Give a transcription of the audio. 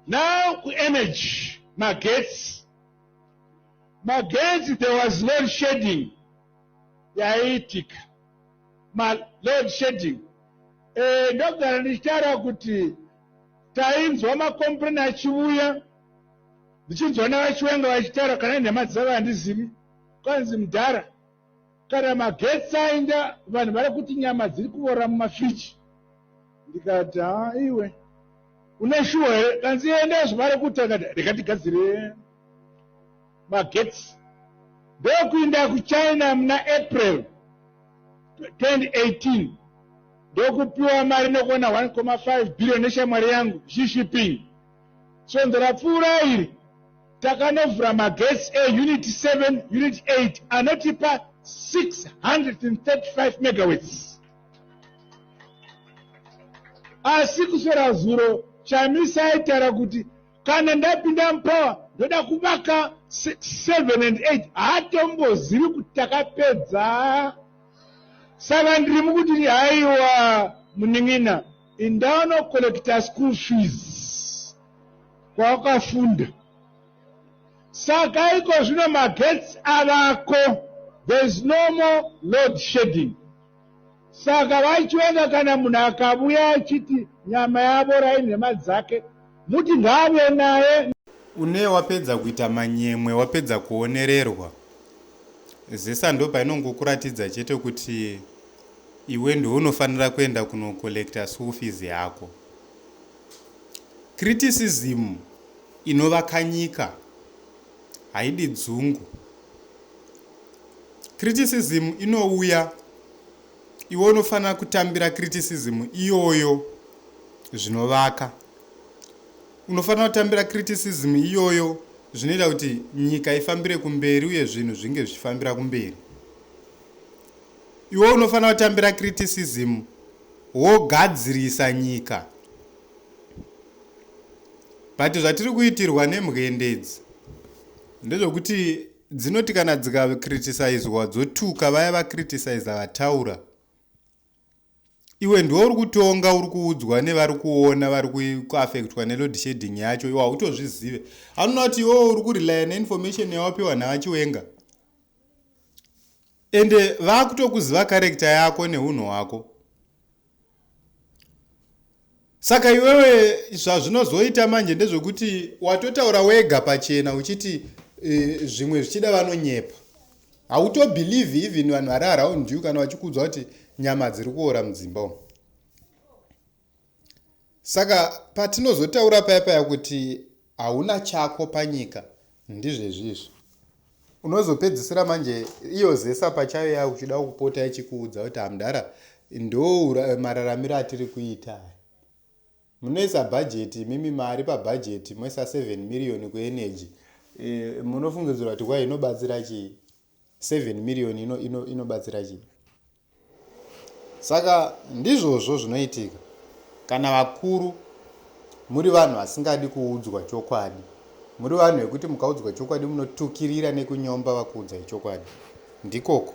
Now ku energy magetsi magetsi there was load shedding yaiitika ma load shedding eh, ndogara ndichitaura kuti tainzwa makomplain achiuya ndichinzwa navachiwenga vachitaura kana nhema dzavo handizivi kwanzi mudhara kana magetsi aenda vanhu vari kuti nyama dziri kuvora mumafriji ndikati haa iwe une shuwa here kanzi enda zvavari kuita kati rega tigadzire magetsi ndokuinda kuchina muna april 2018 ndokupiwa mari nokuona 1,5 billion neshamwari yangu xi shipping Svondo rapfuura iri, takanovhura magetsi eUnit 7, Unit 8 anotipa 635 megawatts. Asi kuswera zuro, Chamisa aitaura kuti kana ndapinda mupower ndoda kuvaka 7 and 8. Haatombozivi kuti takapedza. Saka ndiri mukutiri haiwa munin'ina. Indano collector school fees kwawakafunda saka iko zvino magetsi avako there is no more load shedding saka vachiona kana munhu akavuya achiti nyama yavora inhema dzake Muti ngaave naye. Une wapedza kuita manyemwe wapedza kuonererwa zesa ndopainongokuratidza chete kuti iwe ndounofanira kuenda kunocollecta school fees yako criticism inovakanyika haidi dzungu criticism inouya iwe unofanira kutambira criticism iyoyo zvinovaka unofanira kutambira criticism iyoyo zvinoita kuti nyika ifambire kumberi uye zvinhu zvinge zvichifambira kumberi iwe unofanira kutambira criticism wogadzirisa nyika but zvatiri kuitirwa nemwendedzi ndezvekuti dzinoti kana dzikacriticiswa dzotuka vaya vacriticisa vataura iwe ndiwo uri kutonga uri kuudzwa nevari kuona vari kuaffectwa neload shading yacho iwe hautozvizive anoona kuti iwewo uri kurelya neinformation yawapiwa navachiwenga ende vakutokuziva karekta yako neunhu hwako saka iwewe zvazvinozoita manje ndezvekuti watotaura wega pachena uchiti uh, zvimwe zvichida vanonyepa hautobelieve even vanhu vari around you kana vachikuudzwa kuti nyama dziri kuora mudzimba umu Saka patinozotaura paya paya kuti hauna chako panyika ndizvezvizvi unozopedzisira manje iyo zesa pachayo ya uchida kupota ichikuudza kuti hamdara ndo mararamiro atiri kuita munoisa bhajeti imimi mari pabhajeti moisa 7 miriyoni kuenergy e, munofungidzira kuti kwa inobatsira chii 7 million ino ino inobatsira chii saka ndizvozvo zvinoitika kana vakuru muri vanhu vasingadi kuudzwa chokwadi muri vanhu vekuti mukaudzwa chokwadi munotukirira nekunyomba vakuudzai chokwadi ndikoko